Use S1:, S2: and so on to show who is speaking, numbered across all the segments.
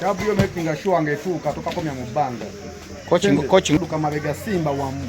S1: Kabyo making sure angetuuka tokakomya mu bbanga coaching duka mabega simba wamu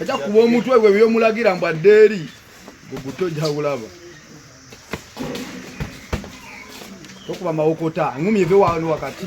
S1: Eja kuba omutwe gwe byomulagira mbu adde eri gugutojja bulaba tokuba mawokota ngumi eve wano wakati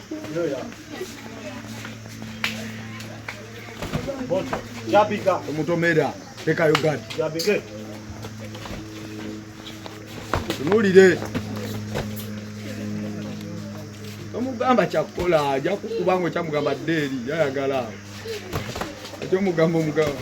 S2: omutomera
S1: tekayo gadi tunulire tomugamba kyakukola aja kukuba nga okyamugamba dde eri yayagala ate omugamba omugamba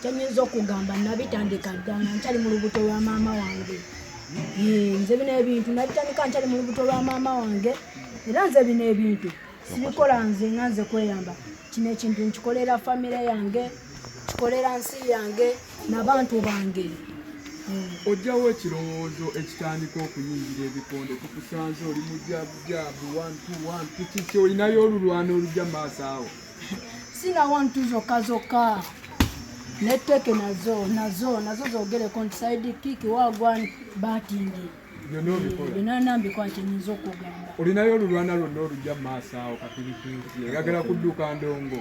S3: kyenyinza okugamba nabitandika dda nga nkyali mu lubuto lwa maama wange nze bino ebintu nabitandika nkyali mu lubuto lwa maama wange era nze bino ebintu sibikola nze nga nze kweyamba kino ekintu nkikolera famire yange kikolera nsi yange nabantu bange
S1: ojjawo ekirowoozo ekitandika okuyingira ebikonde tukusanze oli mujabujaabu wantu wantu kiki olinayo olulwana olujja maaso awo sinawo
S3: ntu zokka zokka netteke nazo nazo nazo zogereko nti saidi kiki wagwan batingi byonna nambikola kyenyinza okugamba olinayo
S1: olulwana lwonna olujja mumaaso awo kapiripiiti egagala kudduka ndongo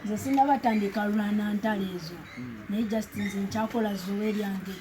S1: nze
S3: sinabatandika lulwana ntalo ezo hmm. naye just nze nkyakola zowe lyange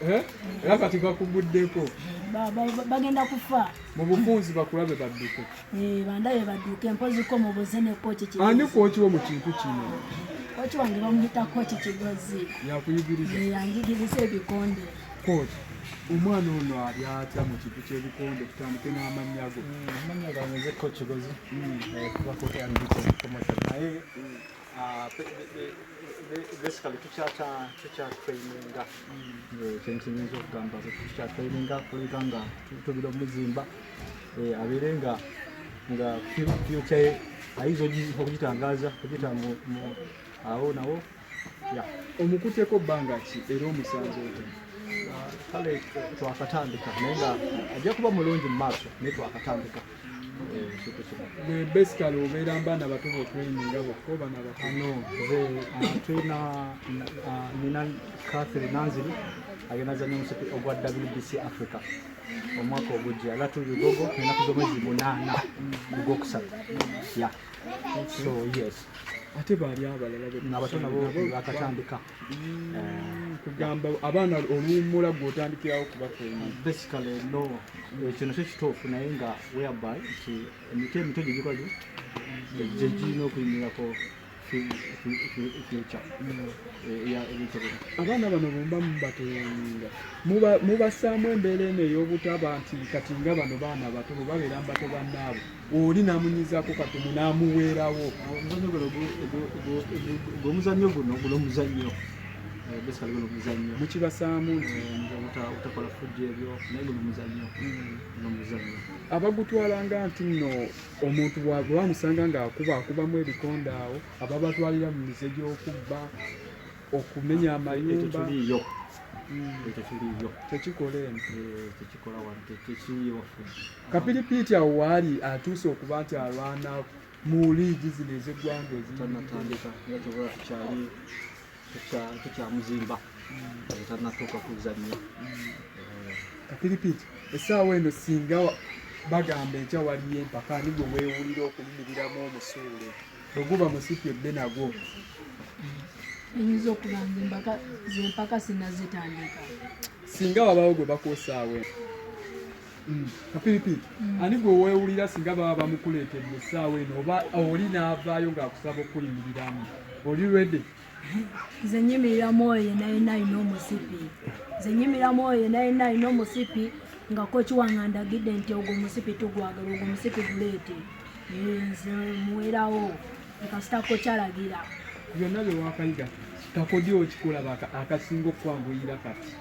S3: Eh? era kati
S1: bakuguddeko bagenda
S3: kufa mu bufunzi
S1: bakulabe badduke eh, bandabe
S3: badduke mpozi ko mubuze ne koki ki ani koki wo mu kintu
S1: kino koki wange
S3: bamuyita koki kigozi yakuyigiriza eh,
S1: yanjigiriza
S3: ebikonde koki
S1: omwana ono ali atya mu kintu kyebikonde tutandike n'amannya go mm, amannya gange nze
S2: koki kigozi mm. kuba koki andikokomata naye Ah, basically tukyata tukyatraininga eh, kyenkiyinza okugamba tukyatraininga kuleka nga tubira omuzimba eh, abeere nga nga fyuca ye ayinza okugitangaza okugita awo nawo
S1: omukuteko bbanga ki era omusanze otya ah, kale
S2: twakatandika naye nga ajja kuba mulungi mu maaso naye twakatandika gwe
S1: basically obeera mba nabato bokuliminga bokko bana bakano nze uh,
S2: tulina uh, nina catherine nanziri agenda zanya omusipi ogwa wbc africa omwaka ogujja era tuli lugogo enaku zomwezi munaana kugwokusatu ya so yes ate baali
S1: abalala nabato nabo
S2: bakatandika
S1: kugamba abaana oluwummula gwe otandikirawo kubafeebasically no
S2: kino eh, kyo kituufu naye nga whereby nti emiti emito gye gikoze gye girina okuyimirako
S1: abaana bano bumba mubateyinga mubasaamu embeera eno ey'obutaba nti kati nga bano baana bato bwebabeera mbato bannaabwe oli namunyizako katumu namuweerawo
S2: omuzanyo guno guno omuzanyo eh, basically guno omuzanyo mukibasaamu nti
S1: eh, utakola
S2: fujja ebyo naye guno omuzanyo hmm. guno omuzanyo
S1: abagutwalanga nti nno omuntu bwamusanga ng'akuba akubamu ebikonde awo aba batwalira mu mize gy'okubba okumenya amayumba hmm. tekikola eno eh, tekikola wano
S2: tekiriyo wafujja Kapiripiiti
S1: awo waali atuuse okuba nti alwana mu liigi zino ez'eggwanga ezitanatandika
S2: nga kyoba kyali tekyamuzimba hmm. tanatuuka kuzannya hmm. kapiripiiti
S1: essaawa eno singa bagamba enkya waliyo empaka ani gwe weewulira okuyimiriramu omusuule bwe guba musipi ebbe nagwo eyinza
S3: okuba nze empaka zempaka sinazitandika singa
S1: wabawo gwe bakwosaawe Mm. kapiripi mm. ani gwe weewulira singa baba bamukuleetedde essaawa eno oba oli n'avaayo ng'akusaba okukuyimiriramu oli redi nze
S3: nyimirira mwoyo yena yena alina omusipi nze nyimirira mwoyo yena yena alina omusipi nga koki wange andagidde nti ogwo omusipi tugwagala ogwo omusipi guleete nze muwerawo ekasita kokyalagira byonna
S1: byewakayiga kakodi okikola akasinga okukwanguyira kati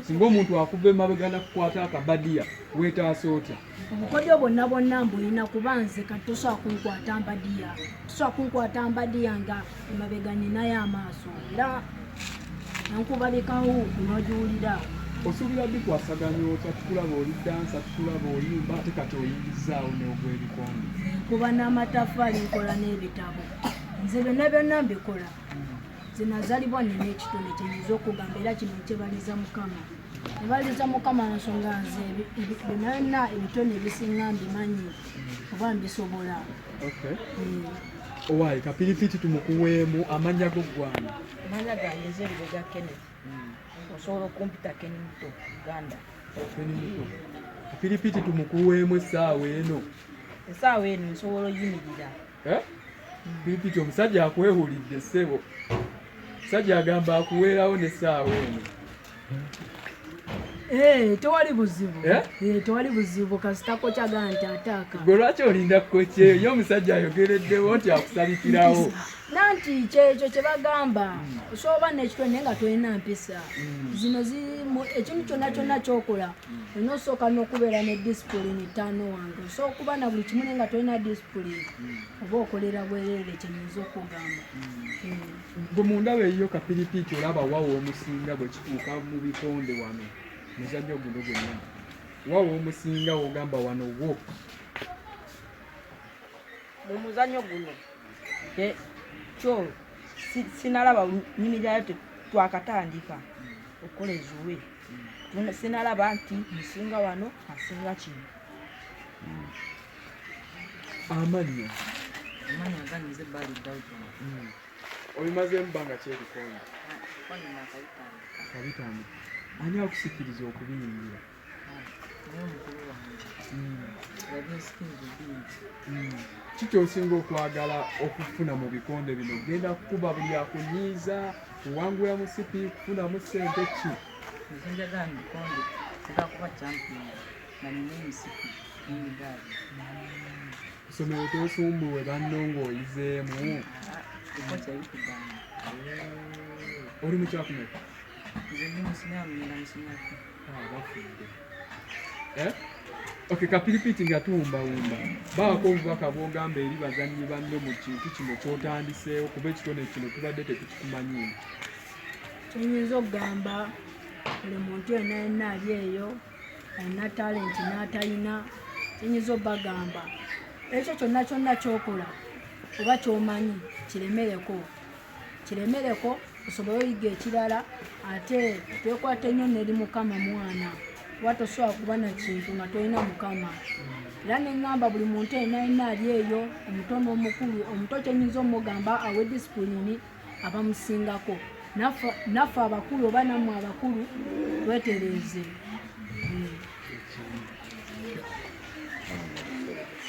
S1: singa omuntu akuva emabega nakukwata akabadiya wetaasa otya obukodyo bwonna
S3: bwonna mbulina kuba nze kati tosobola kunkwata mbadiya tosobola kunkwata mbadiya nga emabega ninayo amaaso era nankubalikawo kunogiwulira osuubira
S1: bikwasaganya otya tukulaba oli dansa tukulaba oyimba ate kati oyingizaawo neogwebikonde nkuba
S3: n'amataffaali nkola n'ebitabo nze byonna byonna mbikola nze nazalibwa nina ekitone kyenyinza okugamba era kino nkyebaliza mukama nebaliza mukama nsonga nze byonana ebitone ebisinga mbimanyi oba mbisobola hmm.
S1: owaye kapiripiti tumukuweemu amanya go ggwana amanya gange nze
S4: ebibega kene hmm. osobola okumpita keni muto uganda
S1: kapiripiti tumukuweemu essaawa eno essaawa eno
S4: nsobola oyimirira
S1: eh? bikiti omusajja akwehulidde ssebo omusajja agamba akuweerawo n'essaawa eno eh,
S3: tewali buzibu eh? eh, tewali buzibu kasitako kyagala nti ataaka gwe lwaki olinda
S1: kukokyeyo ye omusajja ayogereddewo nti akusabikirawo nanti
S3: kyekyo kyebagamba hmm. soba nekitwe naye nga tolina mpisa hmm. zino ekintu kyonna kyonna kyokola hmm. olina osooka nokubeera ne disipulini taano wange osooka okuba na buli kimu naye nga tolina disipulini oba okolera bwerere kyenyinza okugamba
S1: gwe mundaba eyiyo kapiripiiki olaba wawo omusinga bwe kituuka mu bikonde wano muzanyo guno gwenna wawo omusinga ogamba wano wo
S4: mu muzanyo guno kyo sinalaba nyini gyayo twakatandika okukola ezuwe sinalaba nti musinga wano asinga kino
S1: amannya amannya
S4: ganyize bali dawudi hmm.
S1: obimazeemu bbanga kyebikondo kabitano ani akusikiriza okubiyingira ki kyosinga okwagala okufuna mu bikonde bino genda kukuba buli akunyiiza kuwangula musipi kufunamu sente
S4: ki nga nina emisipi
S1: n'emigaali kusomero tosumbuwe banno ng'oyizeemu oli mukyakumeka Eh? ok kapiripiti nga tuwumbawumba baako obubaka bwogamba eri bazannyi banno mu kintu kino kyotandiseewo kuba ekitone kino tubadde tetukikumanyimu
S3: kyenyinza okugamba buli muntu yena yena ali eyo alina talenti n'atalina kyenyinza obagamba ekyo kyonna kyonna kyokola oba kyomanyi kiremereko kiremereko osobole oyiga ekirala ate twekwate nnyo neri mukama mwana kuba tosobola kuba na kintu nga tolina mukama era neŋamba buli muntu enaina ali eyo omuto n'omukulu omuto kyenyinza omugamba awe disipulini abamusingako naffe abakulu oba nammwe abakulu twetereeze